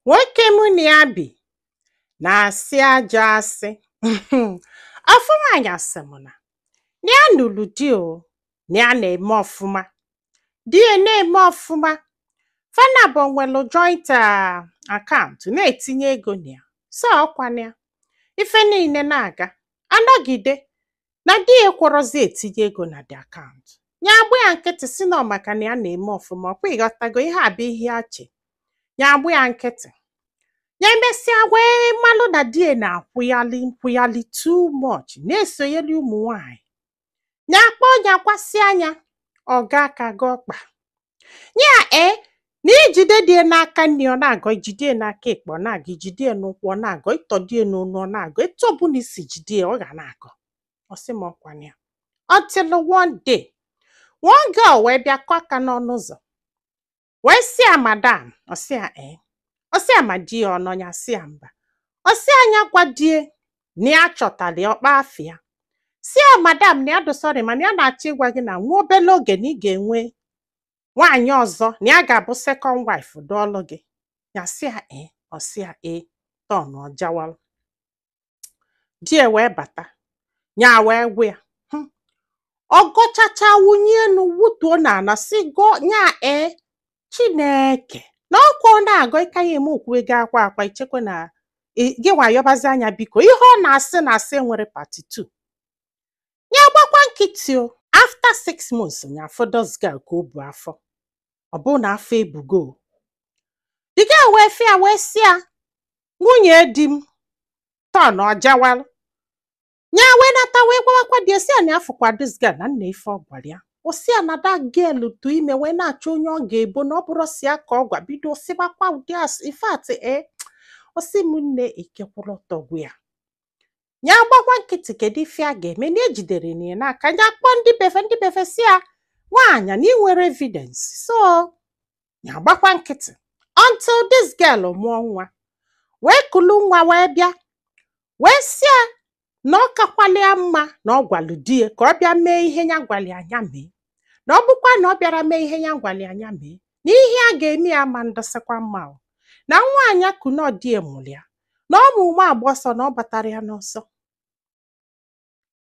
nwoke mụ na ya bi na-asị ajọ asị ofu nwaanyị asị m na na ya nụrụ di o na ya na-eme ọfụma di ya na-eme ọfụma fa naabọ nwere joint account na-etinye ego na ya so ọkwa na ya ife niile na-aga a nọgide na di ya ekwọrọzi etinye ego na the account ya agba ya nkịtị si na ọ maka na ya na-eme ọfụma ọkwa ịghọtago ihe a bụ ihe ya che ya agba ya nkịtị ya emesịa wee malụ na di ya na-akwụyali too much na-esoyeli ụmụ nwanyị ya kpọọ ya kwasị anya ọ gọọ aka gọọ ọkpa ya ee na i jide di ya n'aka nri ọ na-agọ i jide ya n'aka ekpe ọ na-agọ i jide ya n'ụkwụ ọ na-agọ ị tọdo ya n'onu ọ na-agọ etu ọbụla i si jide ya ọ ga na-agọ ọ sị m ọkwa na ya until one day one girl wee bịa kụọ aka n'ọnụ ụzọ wee sị ya madam ọ sị ya ee ọ sị ya ma di ya ọ nọ ya sị ya mba ọ sị ya nya gwa di ya na ya chọtara ya ọkpa afịa si ya madam na ya dị sorry mana ya na-achọ ịgwa gị na nwa obele oge na ị ga-enwe nwaanyị ọzọ na ya ga-abụ second wife dụọlụ gị ya si ya e ọ si ya e turn ọ jawalụ di ya wee bata ya wee gwa ya hmm ọ gọchacha wunie enu wutuo n'ana si gụọ ya e chineke na ọkwa ọ na-agọ ịka ya eme okwuwe gị akwa akwa ichekwa na ị- gị wayọbazi anya biko ihe ọ na-asị na asị e nwere part 2 ya gbakwa nkịtị o after six months nya afụ this girl ka o bu afọ ọ bụrụ na afọ ebugo o. the girl wee fụ ya wee sị ya nwunye di m turn ọ jawalụ ya wee nata wee gwawakwa di si ya na afụkwa this girl na nee ife ọ gwara ya o si ya na that girl tụ ime wee na-achọ onye ọ ga-ebo na ọ bụrụ si ya ka ọ gwa bido sịbakwa ụdị asị in fact o si m nne ike gwụrụ tọgbu ya ya gbakwa nkịtị kedu ife a ga-eme na ejiderọ ya n'aka ya kpọọ ndị be fa ndị be fa si ya nwaanyị na ị nwerọ evidence so ya gbakwa nkịtị until this girl mụọ nwa wee kulu nwa wee bịa wee sị ya na ọ kakwala ya mma na ọ gwalụ di ya ka ọ bịa mee ihe ya gwara ya nya mee na ọ bụkwa na ọ bịarọ mee ihe ya gwara ya nya mee na ihe a ga-eme ya ama adịsịkwa mma o na nwa a nya ku na ọ di ya mụrụ ya na ọ mụ nwa agba ọsọ na ọ batara ya n'ọsọ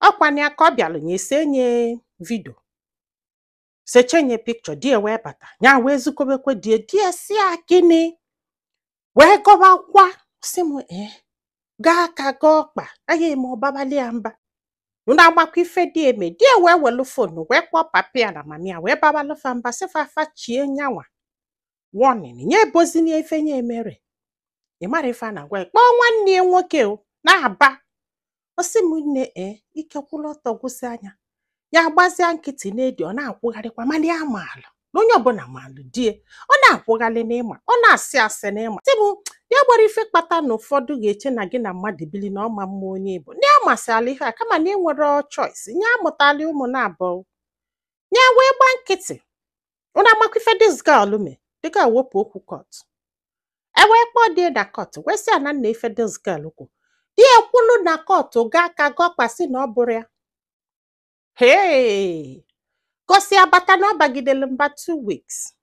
ọkwana ya ka ọ bịalụ nya esenye video sechenye picture di ya wee bata ya wee zikobekwe di ya di ya si ya gịnị wee gọbakwa si m ee gọọ aka gọọ ọkpa anyị eme ọ babalị ya mba unu amakwa ife di ya mee di ya wee welu fonu wee kpọọ papa ya na mama ya wee babalụ fa mba sị fa fa chie nyanwa warning nye ebozina ife nya emere ị mara ife a na-agwa ya kpọọ nwanne ya nwoke o na-aba ọ sị m nne e ike kwụrụ ọtọ gwụsịa nya ya gbazia nkịtị na-edi ọ na-akwụgharịkwa mana ya maalụ na onye ọbụla malụ di ya ọ na-akwụghalị n'ịma ọ na-asị asị n'ịma sị m ya gbara ife kpata na ụfọdụ ga-eche na gị na mmadụ bili na ọma mma onye bụ ndị amasị ala ihe a kama na enwerọ choice nya amụtala ụmụ naabọ ya wee gba nkịtị unu amakwa ife this girl me this girl wepụ okwu court e wee kpọọ di ya na court wee sị ya na nna ife this girl kwu di ya kwulu na court gaa ka gọkpasịa na ọ bụrọ ya hee gọsịa bata na ọ bagidere mba two weeks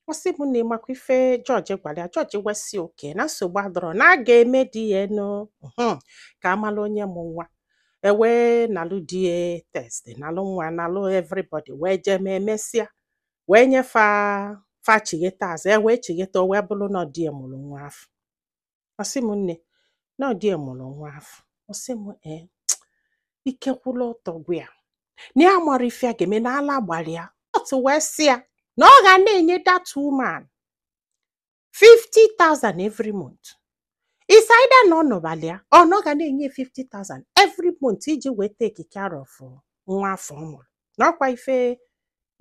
ọ sị m na ịmakwa ife judge gwara ya judge wee sị okay na nsogbu adọrọ na a ga-eme DNA mhm, ka a malụ onye mụ nwa e wee nalụ di ya test nalụ nwa nalụ everybody wee jee mee mesịa wee nye fa fa chigheta azụ e wee chigheta o wee bụrụ na ọ di ya mụrụ nwa afụ ọ sị m nne na ọ di ya mụrụ nwa afụ ọ sị m ee ike kwụlụ ọtọ gwụ ya na ya amarọ ife ya ga-eme na ala gbara ya court wee sị ya na ọ ga na-enye that woman 50,000 every month it's either na ọ nụbalị ya or na ọ ga na-enye 50,000 every month iji wee take care of nwa afụ ọ mụrụ na ọkwa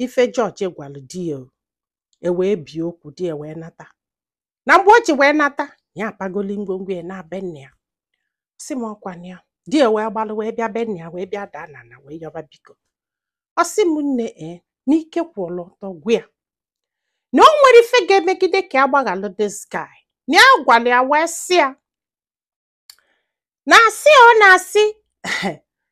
ife judge gwalụ di ya o. e wee bie okwu di ya wee nata na mgbe o ji wee nata ya apagoli ngwongwo ya naa be nna ya ọ sị m ọkwa na ya di ya wee gbalụ wee bịa be nna ya wee bịa daa n'ana wee yọba biko ọ sị m nne ee n'ike kwụrụ ọtọ gwụ ya na o nwerọ ife ga-emegide ka ya gbaghalụ this guy na ya gwara ya wee sị ya na asị ọ na-asị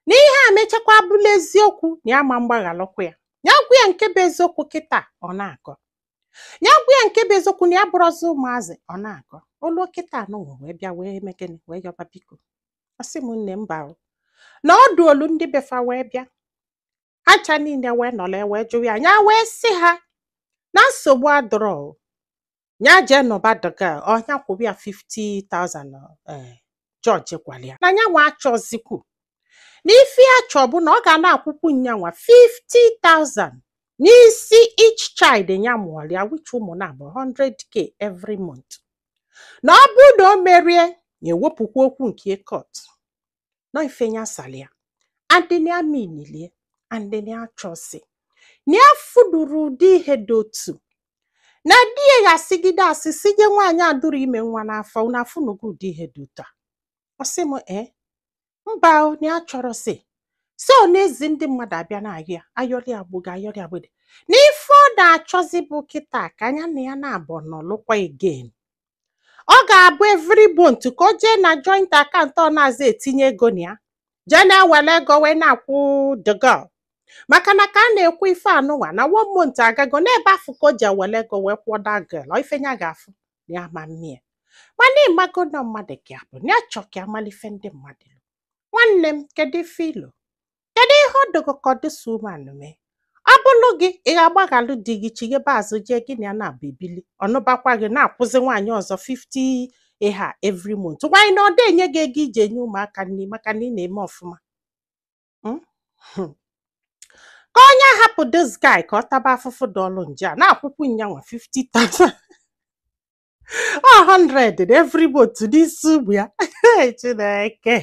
na ihe a mechakwa bụlụ eziokwu na ya ama mgbaghalụkwa ya ya gwa ya nke bụ eziokwu kịta ọ na-agọ ya gwa ya nke bụ eziokwu na ya abụrọzi ụmụazị ọ na-agọ o lu kịtaa nụnwa wee bịa wee mee gịnị wee yọba biko ọ sị m nne mba o. na ọdụ o lu ndị be fa wee bịa ha ncha niile wee nọrọ ya wee jụwa ya ya wee sị ha na nsogbu adọrọ o. ya jee nụba the girl or nya kwụrụ ya 50,000 eh, judge gwara ya na nyanwa achọzikwu na ife ya chọ bụ na ọ ga na-akwụkwụ nyanwa 50,000 n'isi each child ya mụọrọ ya which ụmụ naabọ 100k every month na ọ bụrụ na o merọ ya ya ewepụkwa okwu nke court na ife ya sara ya adị na ya minilie adị na ya chọsi na ya afụdụrọ ụdị ihe dị otu na di ya ga-asigide asị si nye nwaanyị adụrọ ime nwa n'afọ na afụnugo ụdị ihe dị otu a ọ sị m ee mba o, na ya chọrọ sị so ọ na-ezi ndị mmadụ abịa na-ayọ ya ayọrị agbụga ayọrị agbede na ife ọ na-achọzi bụ kịta ka nya na ya na-abụ nọlụkwa again ọ ga-abụ every month ka o jee na joint account ọ na-azị etinye ego na ya jee na-ewere ego wee na-akwụ the girl maka na ka a na-ekwu ife anụnwa na one month agago n'ebe afụ ka o jee were ego wee kwụọ that girl ọ ife ya ga-afụ na ya ma mmie mana ịmago na mmadụ ka ya bụ na ya chọ ka ya mara ife ndị mmadụ lo. nwanne m kedu ife i lo kedu ihe ọ dịgo ka ọ dịsa umeanụ mee ọ bụrụ gị ị ga-agbaghalụ di gị chighebe azụ jee gị na ya na-abụ ebili ọnụbakwa gị na-akwụzi nwaanyị ọzọ 50 ịha every month nwaanyị na ọ dị enye gị ego iji enye ụmụaka nri maka na ị na-eme ọfụma Mm? Hmm. ka onye ahapụ this guy ka ọ taba afụfụ dọlụ nje a na-akwụkwụ nyanwa 50,000 or 100 na every month n'isi ụmụ ya Hey, chineke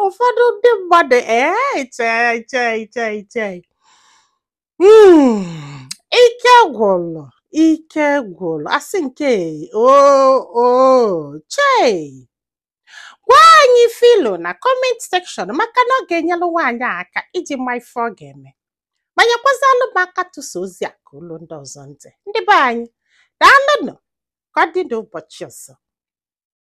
ụfọdụ ndị mmadụ ee chee chee chee chee Mm, ike gwụrụ ike gwụrụ asị nke o o chei gwa anyị ife i lo na comment section maka na ọ ga-enyelụ nwaanyị a aka iji ma ife ọ ga-eme ma nyekwazalụ m aka tụsa ozi a ka o luo ndị ọzọ ntị ndị be anyị daalụnụ ka ọ dị n'ụbọchị ọzọ